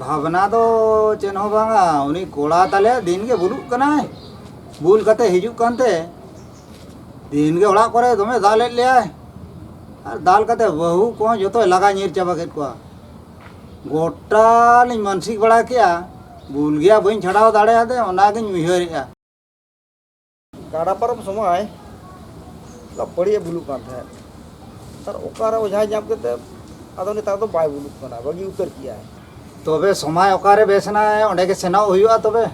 ᱵᱷᱟᱵᱽᱱᱟ ᱫᱚ ᱪᱮᱫ ᱦᱚᱸ ᱵᱟᱝᱟ ᱩᱱᱤ ᱠᱚᱲᱟ ᱛᱟᱞᱮ ᱫᱤᱱ ᱜᱮ ᱵᱩᱞᱩᱜ ᱠᱟᱱᱟᱭ ᱵᱩᱞ ᱠᱟᱛᱮ ᱦᱤᱡᱩᱜ ᱠᱟᱱᱛᱮ ᱫᱤᱱ ᱜᱮ ᱚᱲᱟᱜ ᱠᱚᱨᱮ ᱫᱚᱢᱮ ᱫᱟᱞᱮᱫ ᱞᱮᱭᱟᱭ ᱟᱨ ᱫᱟᱞ ᱠᱟᱛᱮ ᱵᱟᱹᱦᱩ ᱠᱚᱦᱚᱸ ᱡᱚᱛᱚᱭ ᱞᱟᱜᱟ ᱧᱤᱨ ᱪᱟᱵᱟ ᱠᱮᱫ ᱠᱚᱣᱟ ᱜᱚᱴᱟ ᱞᱤᱧ ᱢᱟᱱᱥᱤᱠ ᱵᱟᱲᱟ ᱠᱮᱜᱼᱟ ᱵᱩᱞ ᱜᱮᱭᱟ ᱵᱟᱹᱧ ᱪᱷᱟᱰᱟᱣ ᱫᱟᱲᱮᱭᱟᱫᱮ ᱚᱱᱟᱜᱤᱧ ᱩᱭᱦᱟᱹᱨᱮᱜᱼᱟ ᱜᱟᱰᱟ ᱯᱟᱨᱚᱢ ᱥᱚᱢᱚᱭ ᱞᱟᱯᱟᱲᱤᱭᱮ ᱵᱩᱞᱩᱜ ᱠᱟᱱ ᱛᱟᱦᱮᱸᱫ ᱛᱟᱨ ᱚᱠᱟᱨᱮ ᱚᱡᱷᱟᱭ ᱧᱟᱢ ᱠᱮᱛᱮ ᱟᱫᱚ ᱱᱮᱛᱟᱨ ᱫᱚ ᱵᱟᱭ ᱵᱩᱞᱩᱜ ᱠᱟᱱᱟ ᱵᱟᱹᱜᱤ ᱩᱛᱟᱹᱨ ᱠᱮᱜᱼᱟᱭ ᱛᱚᱵᱮ ᱥᱚᱢᱚᱭ ᱚᱠᱟᱨᱮ ᱵᱮᱥ ᱮᱱᱟᱭ ᱚᱸᱰᱮ ᱜᱮ ᱥᱮᱱᱚᱜ ᱦᱩᱭᱩᱜᱼᱟ ᱛᱚᱵᱮ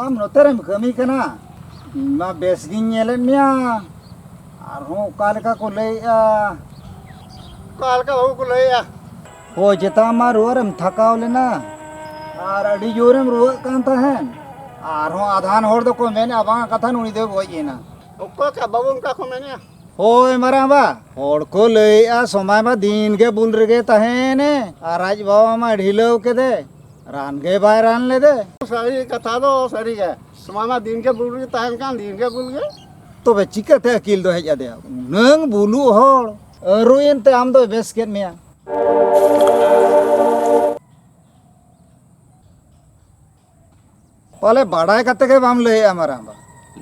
ᱟᱢ ᱱᱚᱛᱮ ᱨᱮᱢ ᱠᱟᱹᱢᱤ ᱠᱟᱱᱟ ᱤᱧ ᱢᱟ ᱵᱮᱥ ᱜᱤᱧ ᱧᱮᱞᱮᱫ ᱢᱮᱭᱟ ᱟᱨᱦᱚᱸ ᱚᱠᱟ ᱞᱮᱠᱟ ᱠᱚ ᱞᱟᱹᱭᱮᱜᱼᱟ ᱚᱠᱟ ᱞᱮᱠᱟ ᱵᱟᱹᱵᱩ ᱠᱚ ᱞᱟᱹᱭᱮᱜᱼᱟ ᱦᱳᱭ ᱪᱮᱛᱟᱱ ᱢᱟ ᱨᱩᱣᱟᱹ ᱨᱮᱢ ᱛᱷᱟᱠᱟᱣ ᱞᱮᱱᱟ ᱟᱨ ᱟᱹᱰᱤ ᱡᱳᱨᱮᱢ ᱨᱩᱣᱟᱹᱜ ᱠᱟᱱ ᱛᱟᱦᱮᱸᱫ ᱟᱨᱦᱚᱸ ᱟᱫᱷᱟᱱ ᱦᱚᱲ ᱫᱚᱠᱚ ᱢᱮᱱᱮᱜᱼᱟ ᱵᱟᱝ ᱠᱟᱛᱷᱟ ᱱᱩᱭ ᱫᱚᱭ ᱜᱚᱡ ᱮᱱᱟ ᱚᱠᱚᱭ ᱠᱟ ᱵᱟᱹᱵᱩ ᱚᱱᱠᱟ ᱠᱚ ᱢᱮᱱᱮᱜᱼᱟ ᱦᱳᱭ ᱢᱟᱨᱟᱝ ᱵᱟ ᱦᱚᱲ ᱠᱚ ᱞᱟᱹᱭᱮᱜᱼᱟ ᱥᱚᱢᱟᱭ ᱢᱟ ᱫᱤᱱ ᱜᱮ ᱵᱩᱞ ᱨᱮᱜᱮ ᱛᱟᱦᱮᱸᱭᱮᱱᱮ ᱟᱨ ᱟᱡ ᱵᱟᱵᱟ ᱢᱟ ᱰᱷᱤᱞᱟᱹᱣ ᱠᱮᱫᱮ ᱨᱟᱱ ᱜᱮ ᱵᱟᱭ ᱨᱟᱱ ᱞᱮᱫᱮ ᱥᱟᱹᱨᱤ ᱠᱟᱛᱷᱟ ᱫᱚ ᱥᱟᱹᱨᱤ ᱜᱮ ᱥᱚᱢᱟᱭ ᱢᱟ ᱫᱤᱱ ᱜᱮ ᱵᱩᱞ ᱜᱮ ᱛᱟᱦᱮᱱ ᱠᱟᱱ ᱫᱤᱱ ᱜᱮ ᱵᱩᱞ ᱜᱮ ᱛᱚᱵᱮ ᱪᱤᱠᱟᱹᱛᱮ ᱟᱹᱠᱤᱞ ᱫᱚ ᱦᱮᱡ ᱟᱫᱮᱭᱟ ᱩᱱᱟᱹᱝ ᱵᱩᱞᱩ ᱦᱚᱲ ᱟᱹᱨᱩᱭᱮᱱ ᱛᱮ ᱟᱢ ᱫᱚᱭ ᱵᱮᱥ ᱠᱮᱫ ᱢᱮᱭᱟ ᱯᱟᱞᱮ ᱵᱟᱰᱟᱭ ᱠᱟᱛᱮ ᱜᱮ ᱵᱟᱢ ᱞᱟᱹᱭᱮᱜᱼᱟ ᱢᱟᱨᱟᱝ ᱵᱟ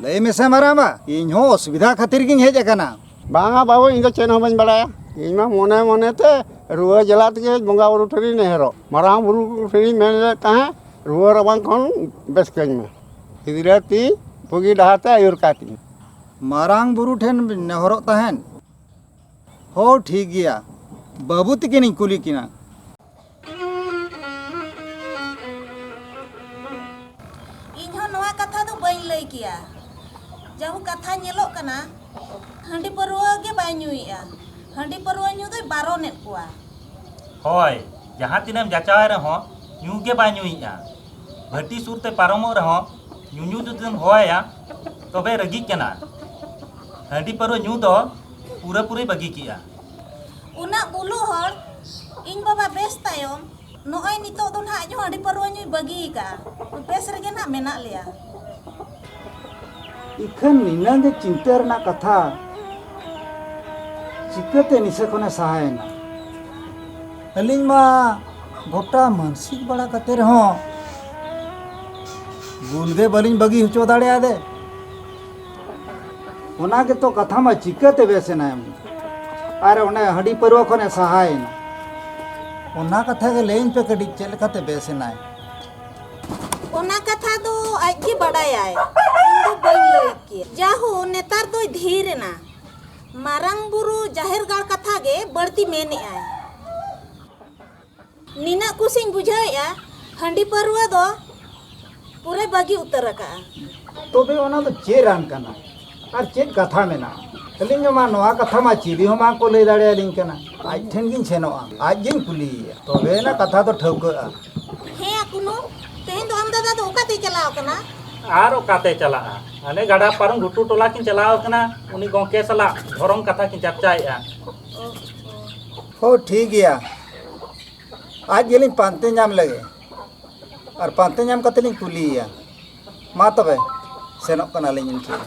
ᱞᱟᱹᱭ ᱢᱮᱥᱮ ᱢᱟᱨᱟᱝ ᱵᱟ ᱤᱧ ᱦᱚᱸ ᱚᱥᱩᱵᱤᱫᱷᱟ ᱠᱷᱟᱹᱛᱤᱨ ᱜᱤᱧ ᱦᱮᱡ ᱟᱠᱟᱱᱟ ᱵᱟᱝᱟ ᱵᱟᱹᱵᱩ ᱤᱧ ᱫᱚ ᱪᱮᱫ ᱦᱚᱸ ᱵᱟᱹᱧ ᱵᱟᱲᱟᱭᱟ ᱤᱧ ᱢᱟ ᱢᱚᱱᱮ ᱢᱚᱱᱮ ᱛᱮ ᱨᱩᱣᱟᱹ ᱡᱟᱞᱟ ᱛᱮᱜᱮ ᱵᱚᱸᱜᱟ ᱵᱩᱨᱩ ᱴᱷᱮᱱᱤᱧ ᱱᱮᱦᱚᱨᱚᱜ ᱢᱟᱨᱟᱝ ᱵᱩᱨᱩ ᱴᱷᱮᱱᱤᱧ ᱢᱮᱱ ᱞᱮᱫ ᱛᱟᱦᱮᱸᱫ ᱨᱩᱣᱟᱹ ᱨᱟᱵᱟᱝ ᱠᱷᱚᱱ ᱵᱮᱥ ᱠᱟᱹᱧ ᱢᱮ ᱜᱤᱫᱽᱨᱟᱹ ᱛᱤᱧ ᱵᱩᱜᱤ ᱰᱟᱦᱟᱨ ᱛᱮ ᱟᱹᱭᱩᱨ ᱠᱟᱭ ᱛᱤᱧ ᱢᱟᱨᱟᱝ ᱵᱩᱨᱩ ᱴᱷᱮᱱ ᱱᱮᱦᱚᱨᱚᱜ ᱛᱟᱦᱮᱸᱫ ᱦᱳ ᱴᱷᱤᱠ ᱜᱮᱭᱟ ᱵᱟᱹᱵᱩ ᱛᱤᱠᱤᱱᱤᱧ ᱠᱩᱞᱤ ᱠᱤᱱᱟ ᱤᱧᱦᱚᱸ ᱱᱚᱣᱟ ᱠᱟᱛᱷᱟ ᱫᱚ ᱵᱟᱹᱧ ᱞᱟᱹᱭ ᱠᱮᱭᱟ ᱡᱟᱦᱩ ᱠᱟᱛᱷᱟ ᱧᱮᱞᱚᱜ ᱠᱟᱱᱟ ᱦᱟᱺᱰᱤ ᱯᱟᱹᱨᱣᱟᱹ ᱜᱮ ᱵᱟᱭ ᱧᱩᱭᱮᱜᱼᱟ ᱦᱟᱺᱰᱤ ᱯᱟᱹᱨᱣᱟᱹ ᱧᱩ ᱫᱚᱭ ᱵᱟᱨᱚᱱᱮᱫ ᱠᱚᱣᱟ ᱦᱳᱭ ᱡᱟᱦᱟᱸ ᱛᱤᱱᱟᱹᱢ ᱡᱟᱪᱟᱣᱟᱭ ᱨᱮᱦᱚᱸ ᱧᱩ ᱜᱮ ᱵᱟᱭ ᱧᱩᱭᱮᱜᱼᱟ ᱵᱷᱟᱹᱴᱤ ᱥᱩᱨ ᱛᱮ ᱯᱟᱨᱚᱢᱚᱜ ᱨᱮᱦᱚᱸ ᱧᱩᱧᱩ ᱡᱩᱫᱤᱢ ᱦᱚᱦᱚᱣᱟᱭᱟ ᱛᱚᱵᱮ ᱨᱟᱹᱜᱤᱜ ᱠᱟᱱᱟ ᱦᱟᱺᱰᱤ ᱯᱟᱹᱨᱣᱟᱹ ᱧᱩ ᱫᱚ ᱯᱩᱨᱟᱹ ᱯᱩᱨᱤ ᱵᱟᱹᱜᱤ ᱠᱮᱫᱼᱟ᱾ ᱩᱱᱟᱹᱜ ᱵᱩᱞᱩᱜ ᱦᱚᱲ ᱤᱧ ᱵᱟᱵᱟ ᱵᱮᱥ ᱛᱟᱭᱚᱢ ᱱᱚᱜᱼᱚᱭ ᱱᱤᱛᱚᱜ ᱫᱚ ᱱᱟᱦᱟᱜ ᱟᱡ ᱦᱚᱸ ᱦᱟᱺᱰᱤ ᱯᱟᱹᱨᱣᱟᱹ ᱧᱩᱭ ᱵᱟᱹᱜᱤ ᱟᱠᱟᱫᱼᱟ᱾ ᱵᱮᱥ ᱨᱮᱜᱮ ᱱᱟᱦᱟᱜ ᱢᱮᱱᱟᱜ ᱞᱮᱭᱟ᱾ ᱤᱠᱷᱟᱹᱱ ᱱᱤᱱᱟᱹᱝ ᱜᱮ ᱪᱤᱱᱛᱟᱹ ᱨᱮᱱᱟᱜ ᱠᱟᱛᱷᱟ ᱪᱤᱠᱟᱹᱛᱮ ᱱᱤᱥᱟᱹ ᱠᱷᱚᱱ ᱮ ᱥᱟᱦᱟ ᱮᱱᱟ? ᱟᱹᱞᱤᱧ ᱢᱟ ᱜᱚᱴᱟ ᱢᱟᱹᱱᱥᱤᱠ ᱵᱟᱲᱟ ᱠᱟᱛᱮ ᱨᱮᱦᱚᱸ ᱵᱩᱞ ᱜᱮ ᱵᱟᱹᱞᱤᱧ ᱵᱟᱹᱜᱤ ᱦᱚᱪᱚ ᱫᱟᱲᱮ ᱟᱫᱮ᱾ ᱚᱱᱟ ᱜᱮᱛᱚ ᱠᱟᱛᱷᱟ ᱢᱟ ᱪᱤᱠᱟᱹᱛᱮ ᱵᱮᱥᱮᱱᱟ ᱮᱢ ᱟᱨ ᱚᱱᱮ ᱦᱟᱺᱰᱤ ᱯᱟᱹᱨᱣᱟᱹ ᱠᱷᱚᱱᱮ ᱥᱟᱦᱟᱭᱮᱱᱟ ᱚᱱᱟ ᱠᱟᱛᱷᱟ ᱜᱮ ᱞᱟᱹᱭᱟᱹᱧ ᱯᱮ ᱠᱟᱹᱴᱤᱡ ᱪᱮᱫ ᱞᱮᱠᱟᱛᱮ ᱵᱮᱥᱮᱱᱟᱭ ᱚᱱᱟ ᱠᱟᱛᱷᱟ ᱫᱚ ᱟᱡ ᱜᱮ ᱵᱟᱰᱟᱭᱟᱭ ᱤᱧ ᱫᱚ ᱵᱟᱹᱧ ᱞᱟᱹᱭ ᱠᱮᱭᱟ ᱡᱟᱦᱳ ᱱᱮᱛᱟᱨ ᱫᱚᱭ ᱫᱷᱤᱨ ᱮᱱᱟ ᱢᱟᱨᱟᱝ ᱵᱩᱨᱩ ᱡᱟᱦᱮᱨ ᱜᱟᱲ ᱠᱟᱛᱷᱟ ᱜᱮ ᱵᱟᱹᱲᱛᱤ ᱢᱮᱱᱮᱜᱼᱟᱭ ᱱᱤᱱᱟᱹ ᱠᱩᱥᱤᱧ ᱵᱩᱡᱷᱟᱹᱣᱮᱜᱼᱟ ᱦᱟᱺᱰᱤ ᱯᱟᱹᱨᱣᱟᱹ ᱫᱚ ᱯᱩᱨᱟᱹ ᱵᱟᱹᱜᱤ ᱩᱛᱟᱹᱨ ᱟᱠᱟᱜᱼᱟ ᱛᱚᱵᱮ ᱚᱱᱟ ᱫᱚ ᱪᱮᱫ ᱨᱟᱱ ᱠᱟᱱᱟ ᱟᱨ ᱪᱮᱫ ᱠᱟᱛᱷᱟ ᱢᱮᱱᱟᱜᱼᱟ ᱟᱹᱞᱤᱧ ᱢᱟ ᱱᱚᱣᱟ ᱠᱟᱛᱷᱟ ᱢᱟ ᱪᱤᱞᱤ ᱦᱚᱸ ᱵᱟᱝᱠᱚ ᱞᱟᱹᱭ ᱫᱟᱲᱮᱭᱟᱞᱤᱧ ᱠᱟᱱᱟ ᱟᱡ ᱴᱷᱮᱱ ᱜᱤᱧ ᱥᱮᱱᱚᱜᱼᱟ ᱟᱡ ᱜᱤᱧ ᱠᱩᱞᱤᱭᱮᱭᱟ ᱛᱚᱵᱮ ᱚᱱᱟ ᱠᱟᱛᱷᱟ ᱫᱚ ᱴᱷᱟᱹᱣᱠᱟᱹᱜᱼᱟ ᱦᱮᱸ ᱟᱠᱩᱱᱩ ᱛᱮᱦᱮᱧ ᱫᱚ ᱟᱢ ᱫᱟᱫᱟ ᱫᱚ ᱚᱠᱟᱛᱮ ᱪᱟᱞᱟᱣ ᱠᱟᱱᱟ ᱟᱨ ᱚᱠᱟᱛᱮ ᱪᱟᱞᱟᱜᱼᱟ ᱦᱟᱱᱮ ᱜᱟᱰᱟ ᱯᱟᱨᱚᱢ ᱜᱷᱩᱴᱩ ᱴᱚᱞᱟ ᱠᱤᱱ ᱪᱟᱞᱟᱣ ᱠᱟᱱᱟ ᱩᱱᱤ ᱜᱚᱝᱠᱮ ᱥᱟᱞᱟᱜ ᱫᱷᱚᱨᱚᱢ ᱠᱟᱛᱷᱟ ᱠᱤᱱ ᱪᱟᱨᱪᱟᱭᱮᱜᱼᱟ ᱦᱳ ᱴᱷᱤᱠ ᱜᱮᱭᱟ ᱟᱡ ᱜᱮᱞᱤᱧ ᱯᱟᱱᱛᱮ ᱧᱟᱢ ᱞᱮᱜᱮ ᱟᱨ ᱯᱟᱱᱛᱮ ᱧᱟᱢ ᱠᱟᱛᱮ ᱞᱤᱧ ᱠᱩᱞᱤᱭᱮᱭᱟ ᱢᱟ ᱛᱚᱵᱮ ᱥᱮᱱᱚᱜ ᱠᱟᱱᱟᱞᱤᱧ ᱤᱱᱠᱟᱹ ᱜᱮ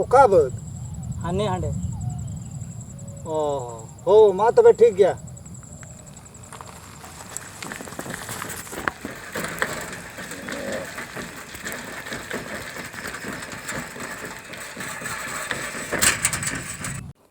ᱚᱠᱟ ᱵᱟᱹᱫᱽ ᱦᱟᱱᱮ ᱦᱟᱸᱰᱮ ᱚ ᱦᱳ ᱢᱟ ᱛᱚᱵᱮ ᱴᱷᱤᱠ ᱜᱮᱭᱟ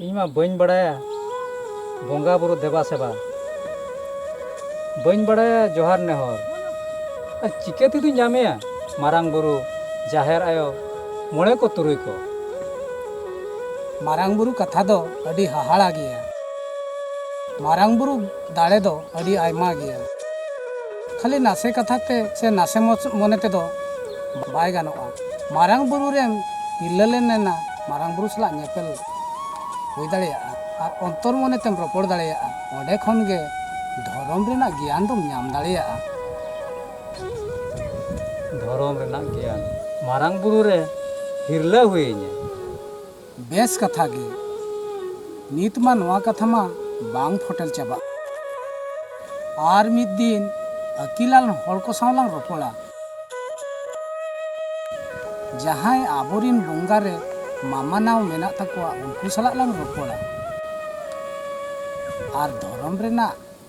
ᱤᱧ ᱢᱟ ᱵᱟᱹᱧ ᱵᱟᱲᱟᱭᱟ ᱵᱚᱸᱜᱟ ᱵᱩᱨᱩ ᱫᱮᱵᱟ ᱥᱮᱵᱟ ᱵᱟᱹᱧ ᱵᱟᱲᱟᱭᱟ ᱡᱚᱦᱟᱨ ᱱᱮᱦᱚᱨ ᱟᱨ ᱪᱤᱠᱟᱹ ᱛᱮᱫᱚᱧ ᱧᱟᱢᱮᱭᱟ ᱢᱟᱨᱟᱝ ᱵᱩᱨᱩ ᱡᱟᱦᱮᱨ ᱟᱭᱳ ᱢᱚᱬᱮ ᱠᱚ ᱛᱩᱨᱩᱭ ᱠᱚ ᱢᱟᱨᱟᱝ ᱵᱩᱨᱩ ᱠᱟᱛᱷᱟ ᱫᱚ ᱟᱹᱰᱤ ᱦᱟᱦᱟᱲᱟ ᱜᱮᱭᱟ ᱢᱟᱨᱟᱝ ᱵᱩᱨᱩ ᱫᱟᱲᱮ ᱫᱚ ᱟᱹᱰᱤ ᱟᱭᱢᱟ ᱜᱮᱭᱟ ᱠᱷᱟᱹᱞᱤ ᱱᱟᱥᱮ ᱠᱟᱛᱷᱟ ᱛᱮ ᱥᱮ ᱱᱟᱥᱮ ᱢᱚᱱᱮ ᱛᱮᱫᱚ ᱵᱟᱭ ᱜᱟᱱᱚᱜᱼᱟ ᱢᱟᱨᱟᱝ ᱵᱩᱨᱩ ᱨᱮᱢ ᱛᱤᱨᱞᱟᱹ ᱞᱮᱱ ᱮᱱᱟ ᱢᱟᱨᱟᱝ ᱵᱩᱨᱩ ᱥᱟᱞᱟᱜ ᱧᱮᱯᱮᱞ ᱦᱩᱭ ᱫᱟᱲᱮᱭᱟᱜᱼᱟ ᱟᱨ ᱚᱱᱛᱚᱨ ᱢᱚᱱᱮ ᱛᱮᱢ ᱨᱚᱯᱚᱲ ᱫᱟᱲᱮᱭᱟᱜᱼᱟ ᱚᱸᱰᱮ ᱠᱷᱚᱱ ᱜᱮ ᱫᱷᱚᱨᱚᱢ ᱨᱮᱱᱟᱜ ᱜᱮᱭᱟᱱ ᱫᱚᱢ ᱧᱟᱢ ᱫᱟᱲᱮᱭᱟᱜᱼᱟ ᱫᱷᱚᱨᱚᱢ ᱨᱮᱱᱟᱜ ᱜᱮᱭᱟᱱ ᱢᱟᱨᱟᱝ ᱵᱩᱨᱩ ᱨᱮ ᱦᱤᱨᱞᱟᱹ ᱦᱩᱭᱤᱧᱟ ᱵᱮᱥ ᱠᱟᱛᱷᱟ ᱜᱮ ᱱᱤᱛ ᱢᱟ ᱱᱚᱣᱟ ᱠᱟᱛᱷᱟ ᱢᱟ ᱵᱟᱝ ᱯᱷᱚᱴᱮᱞ ᱪᱟᱵᱟᱜ ᱟᱨ ᱢᱤᱫ ᱫᱤᱱ ᱟᱹᱠᱤᱞᱟᱱ ᱦᱚᱲ ᱠᱚ ᱥᱟᱶ ᱞᱟᱝ ᱨᱚᱯᱚᱲᱟ ᱡᱟᱦᱟᱸᱭ ᱟᱵᱚᱨᱤᱱ ᱵᱚᱸᱜᱟ ᱨᱮ ᱢᱟᱢᱟᱱᱟᱣ ᱢᱮᱱᱟᱜ ᱛᱟᱠᱚᱣᱟ ᱩᱱᱠᱩ ᱥᱟᱞᱟᱜ ᱞᱟᱝ ᱨᱚᱯᱚᱲᱟ ᱟᱨ ᱫᱷᱚᱨᱚᱢ ᱨᱮᱱᱟᱜ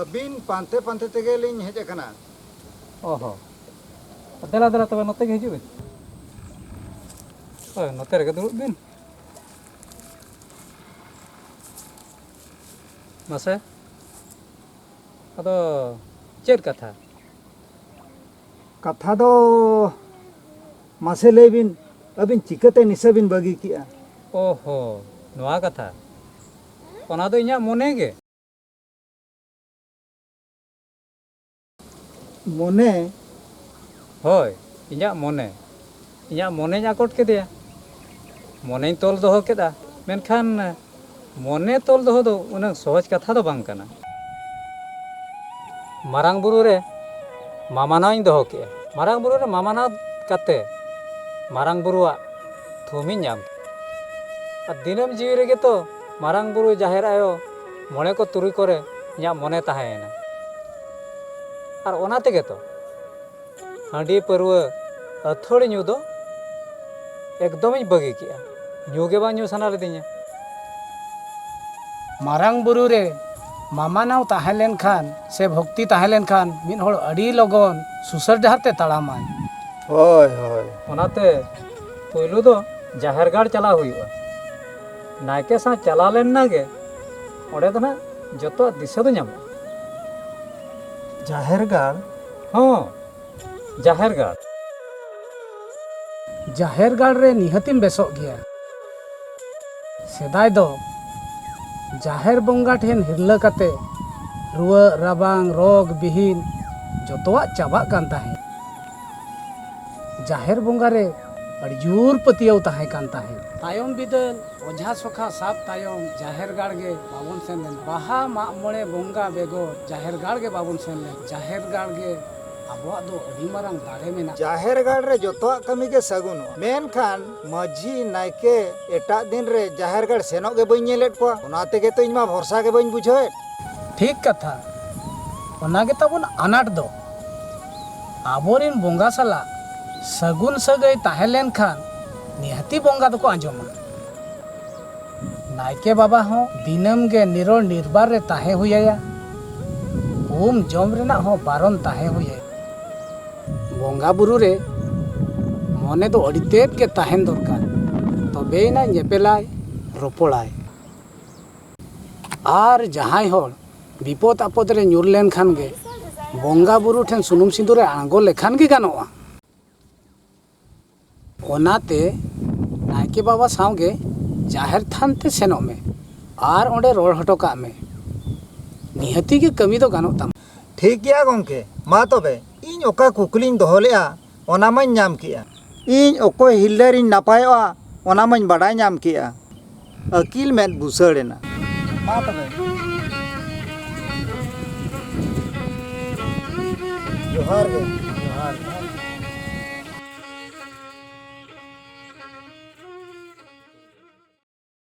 ᱟᱹᱵᱤᱱ ᱯᱟᱱᱛᱮ ᱯᱟᱱᱛᱮ ᱛᱮᱜᱮ ᱞᱤᱧ ᱦᱮᱡ ᱟᱠᱟᱱᱟ ᱚᱦᱚ ᱫᱮᱞᱟ ᱫᱮᱞᱟ ᱛᱚᱵᱮ ᱱᱚᱛᱮ ᱜᱮ ᱦᱤᱡᱩᱜ ᱵᱤᱱ ᱦᱳᱭ ᱱᱚᱛᱮ ᱨᱮᱜᱮ ᱫᱩᱲᱩᱵ ᱵᱤᱱ ᱢᱟᱥᱮ ᱟᱫᱚ ᱪᱮᱫ ᱠᱟᱛᱷᱟ ᱠᱟᱛᱷᱟ ᱫᱚ ᱢᱟᱥᱮ ᱞᱟᱹᱭ ᱵᱤᱱ ᱟᱹᱵᱤᱱ ᱪᱤᱠᱟᱹᱛᱮ ᱱᱤᱥᱟᱹ ᱵᱤᱱ ᱵᱟᱹᱜᱤ ᱠᱮᱜᱼᱟ ᱚᱦᱚ ᱱᱚᱣᱟ ᱠᱟᱛᱷᱟ ᱚᱱᱟ ᱫᱚ ᱤᱧᱟᱹᱜ ᱢᱚᱱᱮ ᱜᱮ ᱢᱚᱱᱮ ᱦᱳᱭ ᱤᱧᱟᱹᱜ ᱢᱚᱱᱮ ᱤᱧᱟᱹᱜ ᱢᱚᱱᱮᱧ ᱟᱠᱚᱴ ᱠᱮᱫᱮᱭᱟ ᱢᱚᱱᱮᱧ ᱛᱚᱞ ᱫᱚᱦᱚ ᱠᱮᱫᱟ ᱢᱮᱱᱠᱷᱟᱱ ᱢᱚᱱᱮ ᱛᱚᱞ ᱫᱚᱦᱚ ᱫᱚ ᱩᱱᱟᱹᱜ ᱥᱚᱦᱚᱡᱽ ᱠᱟᱛᱷᱟ ᱫᱚ ᱵᱟᱝ ᱠᱟᱱᱟ ᱢᱟᱨᱟᱝ ᱵᱩᱨᱩ ᱨᱮ ᱢᱟᱢᱟᱱᱟᱣᱤᱧ ᱫᱚᱦᱚ ᱠᱮᱫᱼᱟ ᱢᱟᱨᱟᱝ ᱵᱩᱨᱩ ᱨᱮ ᱢᱟᱢᱟᱱᱟᱣ ᱠᱟᱛᱮ ᱢᱟᱨᱟᱝ ᱵᱩᱨᱩᱣᱟᱜ ᱛᱷᱩᱢᱤᱧ ᱧᱟᱢ ᱠᱮᱫᱼᱟ ᱟᱨ ᱫᱤᱱᱟᱹᱢ ᱡᱤᱣᱤ ᱨᱮᱜᱮ ᱛᱚ ᱢᱟᱨᱟᱝ ᱵᱩᱨᱩ ᱡᱟᱦᱮᱨ ᱟᱭᱳ ᱢᱚᱬᱮ ᱠᱚ ᱛᱩᱨᱩᱭ ᱠᱚᱨᱮ ᱤᱧᱟᱹᱜ ᱢᱚᱱᱮ ᱛᱟᱦᱮᱸᱭᱮᱱᱟ ᱟᱨ ᱚᱱᱟ ᱛᱮᱜᱮ ᱛᱚ ᱦᱟᱺᱰᱤ ᱯᱟᱹᱨᱣᱟᱹ ᱟᱹᱛᱷᱟᱹᱲᱤ ᱧᱩ ᱫᱚ ᱮᱠᱫᱚᱢᱤᱧ ᱵᱟᱹᱜᱤ ᱠᱮᱜᱼᱟ ᱧᱩ ᱜᱮ ᱵᱟᱝ ᱧᱩ ᱥᱟᱱᱟ ᱞᱤᱫᱤᱧᱟ ᱢᱟᱨᱟᱝ ᱵᱩᱨᱩ ᱨᱮ ᱢᱟᱢᱟᱱᱟᱣ ᱛᱟᱦᱮᱸ ᱞᱮᱱᱠᱷᱟᱱ ᱥᱮ ᱵᱷᱚᱠᱛᱤ ᱛᱟᱦᱮᱸ ᱞᱮᱱᱠᱷᱟᱱ ᱢᱤᱫ ᱦᱚᱲ ᱟᱹᱰᱤ ᱞᱚᱜᱚᱱ ᱥᱩᱥᱟᱹᱨ ᱰᱟᱦᱟᱨ ᱛᱮ ᱛᱟᱲᱟᱢᱟᱭ ᱦᱳᱭ ᱦᱳᱭ ᱚᱱᱟᱛᱮ ᱯᱳᱭᱞᱳ ᱫᱚ ᱡᱟᱦᱮᱨ ᱜᱟᱲ ᱪᱟᱞᱟᱣ ᱦᱩᱭᱩᱜᱼᱟ ᱱᱟᱭᱠᱮ ᱥᱟᱶ ᱪᱟᱞᱟᱣ ᱞᱮᱱ ᱱᱟᱜᱮ ᱚᱸᱰᱮ ᱫᱚ ᱱᱟᱜ ᱡᱚᱛᱚᱣᱟᱜ ᱫᱤᱥᱟᱹ ᱫᱚ ᱧᱟᱢᱚᱜᱼᱟ ᱡᱟᱦᱮᱨ ᱜᱟᱲ ᱦᱚᱸ ᱡᱟᱦᱮᱨ ᱜᱟᱲ ᱡᱟᱦᱮᱨ ᱜᱟᱲ ᱨᱮ ᱱᱤᱦᱟᱹᱛᱤᱢ ᱵᱮᱥᱚᱜ ᱜᱮᱭᱟ ᱥᱮᱫᱟᱭ ᱫᱚ ᱡᱟᱦᱮᱨ ᱵᱚᱸᱜᱟ ᱴᱷᱮᱱ ᱦᱤᱨᱞᱟᱹ ᱠᱟᱛᱮ ᱨᱩᱣᱟᱹᱜ ᱨᱟᱵᱟᱝ ᱨᱳᱜᱽ ᱵᱤᱦᱤᱱ ᱡᱚᱛᱚᱣᱟᱜ ᱪᱟᱵᱟᱜ ᱠᱟᱱ ᱛᱟᱦᱮᱸᱫ ᱡᱟᱦᱮᱨ ᱵᱚᱸᱜᱟ ᱨᱮ ᱟᱹᱰᱤ ᱡᱳᱨ ᱯᱟᱹᱛᱭᱟᱹᱣ ᱛᱟᱦᱮᱸ ᱠᱟᱱ ᱛᱟᱦᱮᱸᱫ ᱛᱟᱭᱚᱢ ᱵᱤᱫᱟᱹᱞ ᱚᱡᱷᱟ ᱥᱚᱠᱷᱟ ᱥᱟᱵ ᱛᱟᱭᱚᱢ ᱡᱟᱦᱮᱨ ᱜᱟᱲ ᱜᱮ ᱵᱟᱵᱚᱱ ᱥᱮᱱ ᱞᱮᱱ ᱵᱟᱦᱟ ᱢᱟᱜ ᱢᱚᱬᱮ ᱵᱚᱸᱜᱟ ᱵᱮᱜᱚᱨ ᱡᱟᱦᱮᱨ ᱜᱟᱲ ᱜᱮ ᱵᱟᱵᱚᱱ ᱥᱮᱱ ᱞᱮᱱ ᱡᱟᱦᱮᱨ ᱜᱟᱲ ᱜᱮ ᱟᱵᱚᱣᱟᱜ ᱫᱚ ᱟᱹᱰᱤ ᱢᱟᱨᱟᱝ ᱫᱟᱲᱮ ᱢᱮᱱᱟᱜᱼᱟ ᱡᱟᱦᱮᱨ ᱜᱟᱲ ᱨᱮ ᱡᱚᱛᱚᱣᱟᱜ ᱠᱟᱹᱢᱤ ᱜᱮ ᱥᱟᱹᱜᱩᱱᱚᱜᱼᱟ ᱢᱮᱱᱠᱷᱟᱱ ᱢᱟᱹᱡᱷᱤ ᱱᱟᱭᱠᱮ ᱮᱴᱟᱜ ᱫᱤᱱ ᱨᱮ ᱡᱟᱦᱮᱨ ᱜᱟᱲ ᱥᱮᱱᱚᱜ ᱜᱮ ᱵᱟᱹᱧ ᱧᱮᱞᱮᱫ ᱠᱚᱣᱟ ᱚᱱᱟ ᱛᱮᱜᱮ ᱛᱚ ᱤᱧ ᱢᱟ ᱵᱷᱚᱨᱥᱟ ᱜᱮ ᱵᱟᱹᱧ ᱵᱩᱡᱷᱟᱹᱣᱮᱫ ᱴᱷᱤᱠ ᱠᱟᱛᱷᱟ ᱚᱱᱟ ᱜᱮ ᱛᱟᱵᱚᱱ ᱟᱱᱟᱴ ᱫᱚ ᱟᱵᱚ ᱨᱤᱱ ᱵᱚᱸᱜᱟ ᱥᱟᱞᱟᱜ ᱥᱟᱹᱜᱩᱱ ᱥᱟᱹᱜᱟᱹᱭ ᱛᱟᱦᱮᱸ ᱞᱮᱱ ᱠᱷᱟᱱ ᱱᱤᱦᱟᱹᱛᱤ ᱵᱚᱸᱜᱟ ᱫᱚᱠᱚ ᱟᱸᱡᱚᱢᱟ᱾ ᱱᱟᱭᱠᱮ ᱵᱟᱵᱟ ᱦᱚᱸ ᱫᱤᱱᱟᱹᱢ ᱜᱮ ᱱᱤᱨᱚᱲ ᱱᱤᱨᱵᱟᱨ ᱨᱮ ᱛᱟᱦᱮᱸ ᱦᱩᱭ ᱟᱭᱟ᱾ ᱩᱢ ᱡᱚᱢ ᱨᱮᱱᱟᱜ ᱦᱚᱸ ᱵᱟᱨᱚᱱ ᱛᱟᱦᱮᱸ ᱦᱩᱭ ᱟᱭᱟ᱾ ᱵᱚᱸᱜᱟ ᱵᱩᱨᱩ ᱨᱮ ᱢᱚᱱᱮ ᱫᱚ ᱟᱹᱰᱤ ᱛᱮᱫ ᱜᱮ ᱛᱟᱦᱮᱸᱱ ᱫᱚᱨᱠᱟᱨ ᱛᱚᱵᱮᱭᱮᱱᱟ ᱧᱮᱯᱮᱞᱟᱭ ᱨᱚᱯᱚᱲᱟᱭ᱾ ᱟᱨ ᱡᱟᱦᱟᱸᱭ ᱦᱚᱲ ᱵᱤᱯᱚᱫ ᱟᱯᱚᱫ ᱨᱮ ᱧᱩᱨ ᱞᱮᱱ ᱠᱷᱟᱱ ᱜᱮ ᱵᱚᱸᱜᱟ ᱵᱩᱨᱩ ᱴᱷᱮᱱ ᱥᱩᱱᱩᱢ ᱥᱤᱸᱫᱩᱨ ᱨᱮ ᱟᱬᱜᱚ ᱞᱮᱠᱷᱟᱱ ᱜᱮ ᱜᱟᱱᱚᱜᱼᱟ ᱚᱱᱟᱛᱮ ᱱᱟᱭᱠᱮ ᱵᱟᱵᱟ ᱥᱟᱶ ᱜᱮ ᱡᱟᱦᱮᱨ ᱛᱷᱟᱱ ᱛᱮ ᱥᱮᱱᱚᱜ ᱢᱮ ᱟᱨ ᱚᱸᱰᱮ ᱨᱚᱲ ᱦᱚᱴᱚ ᱠᱟᱜ ᱢᱮ ᱱᱤᱦᱟᱹᱛᱤ ᱜᱮ ᱠᱟᱹᱢᱤ ᱫᱚ ᱜᱟᱱᱚᱜ ᱛᱟᱢᱟ ᱴᱷᱤᱠ ᱜᱮᱭᱟ ᱜᱚᱢᱠᱮ ᱢᱟ ᱛᱚᱵᱮ ᱤᱧ ᱚᱠᱟ ᱠᱩᱠᱞᱤᱧ ᱫᱚᱦᱚ ᱞᱮᱫᱼᱟ ᱚᱱᱟ ᱢᱟᱹᱧ ᱧᱟᱢ ᱠᱮᱜᱼᱟ᱾ ᱤᱧ ᱚᱠᱚᱭ ᱦᱤᱨᱞᱟᱹ ᱨᱤᱧ ᱱᱟᱯᱟᱭᱚᱜᱼᱟ ᱚᱱᱟ ᱢᱟᱹᱧ ᱵᱟᱰᱟᱭ ᱧᱟᱢ ᱠᱮᱜᱼᱟ᱾ ᱟᱹᱠᱤᱞ ᱢᱮᱫ ᱵᱩᱥᱟᱹᱲ ᱮᱱᱟ᱾ ᱢᱟ ᱛᱚᱵᱮ᱾ ᱡᱚᱦᱟᱨ ᱜᱮ᱾ ᱡᱚᱦᱟᱨ ᱜᱮ᱾